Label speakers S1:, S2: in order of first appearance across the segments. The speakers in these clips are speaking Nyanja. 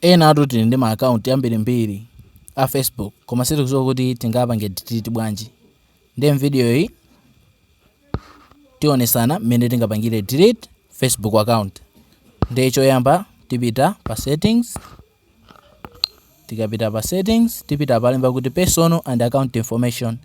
S1: Enatu tili ndi ma account ambirimbiri a Facebook koma sitikudziwa kuti tingapange delete bwanji. Ndiye m'video iyi tionesana mmene tingapangire delete Facebook account. Ndiye choyamba tipita pa settings, tikapita pa settings tipita palemba kuti personal and account information,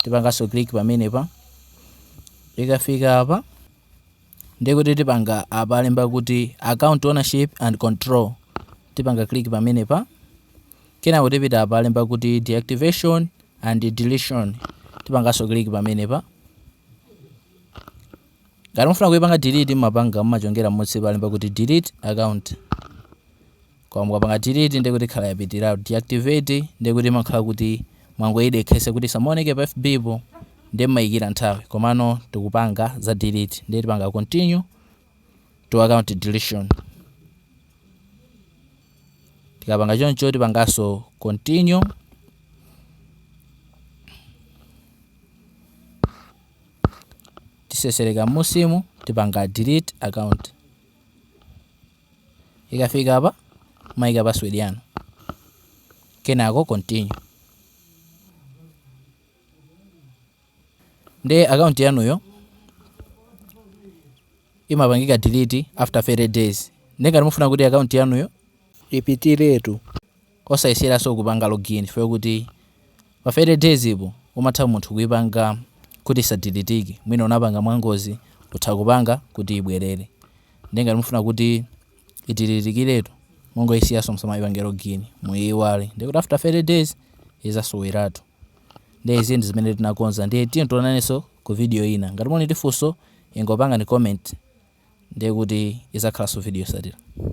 S1: tipanganso click pamenepa. Tikafika apa Ndiye kuti tipanga apa alemba kuti account ownership and control tipanga click pamenepa kenako tipita apa alemba kuti deactivation and deletion tipanganso click pamenepa ngati mufuna kuipanga delete mmapanga mmachongera m'munsi palemba kuti delete account Koma mukapanga delete ndiye kuti ikhala yapitiratu. Deactivate ndiye kuti imakhala kuti mwangoidekhetsa kuti isamaoneke pa FB po ndiye mmaikira nthawi. Komano tikupanga za delete ndiye tipanga continue to account deletion. Tikapanga choncho tipanganso continue tisesereka m'musimu tipanga delete account. Ikafika apa mumaika password yanu kenako continue. Nde account yanuyo imapangika delete after 30 days. Nde ngati mufuna kuti account yanuyo ipitiretu. Osayeseraso kupanga login chifukwa kuti pa 30 days po umatha munthu kuipanga kuti isadelitike mwina unapanga mwangozi utha kupanga kuti ibwerere nde ngati mufuna kuti idelitikiretu mungoisiyaso musamaipange login muiiwale nde kuti after 30 days izasoweratu nde izi ndizimene tinakonza ndiye tionanaso ku video ina ngati muli ndi funso ingopangani comment nde kuti izakhalaso video yosatira.